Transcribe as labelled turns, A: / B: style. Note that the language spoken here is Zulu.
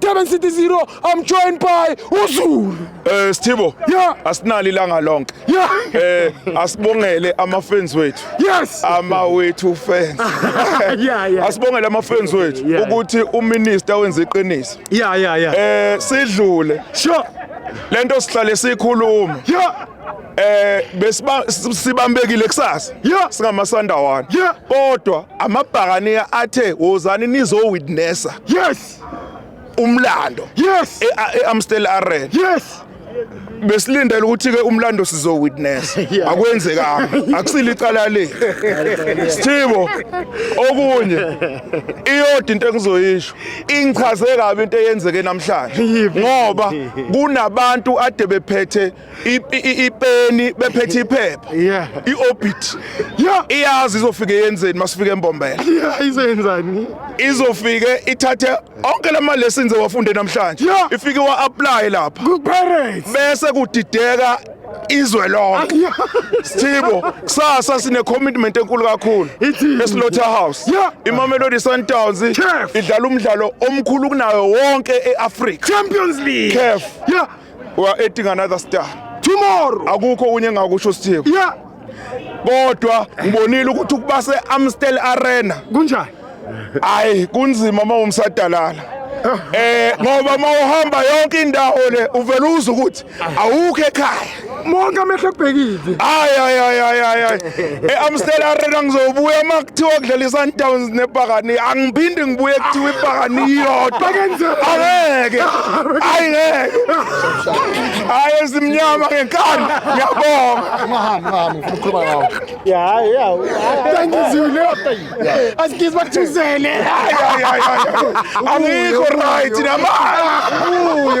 A: Durban City 0 I'm joined by uZulu Eh Sthibo
B: Yeah. asinalo
A: ilanga lonke
B: yeah eh
A: asibongele
B: ama fans wethu yes ama
A: wethu
B: fans yeah yeah
A: asibongele ama fans
B: wethu Yeah. ukuthi
A: uminister
B: wenza iqiniso yeah yeah yeah eh
A: sidlule
B: sure
A: lento sihlale
B: sikhuluma yeah
A: eh besiba
B: sibambekile kusasa Yeah. singamasandawana
A: Yeah.
B: kodwa amabhakaniya athe wozani nizo witnessa yes
A: umlando
B: yes
A: eAmstel Arena
B: yes
A: besilindele
B: ukuthi ke umlando sizo witness akwenzekanga akusile icala le Sthibo okunye iyodi into engizoyisho ingichaze kabi into eyenzeke namhlanje ngoba kunabantu ade bephethe ipeni bephethe iphepha yeah iorbit yeah iyazi izofike yenzeni masifike embombela yeah izenzani
A: izofike
B: ithathe onke lama lessons ewafunde namhlanje ifike wa apply lapha ku parents
A: bese kudideka
B: izwe lonke Sithibo kusasa sine commitment enkulu kakhulu eSlaughter House iMamelodi Sundowns idlala umdlalo omkhulu kunayo wonke eAfrica Champions League
A: CAF
B: we are adding another star tomorrow
A: akukho unye engakusho
B: sithiyo yeah kodwa ngibonile ukuthi ukuba se-amstel arena kunjani
A: hayi
B: kunzima uma umsadalala eh ngoba uma uhamba yonke indawo le uvele uze ukuthi awukho ekhaya monke amehlo
A: ekubhekile ayayayayay
B: e-amstel arena ngizobuya uma kuthiwa kudlala i-sundowns nebhakani angiphindi ngibuye kuthiwa ibhakani iyodwa angeke ayi ngeke hayi ezimnyama ngenkani ngiyabongaangizibachuzele angikho right namanje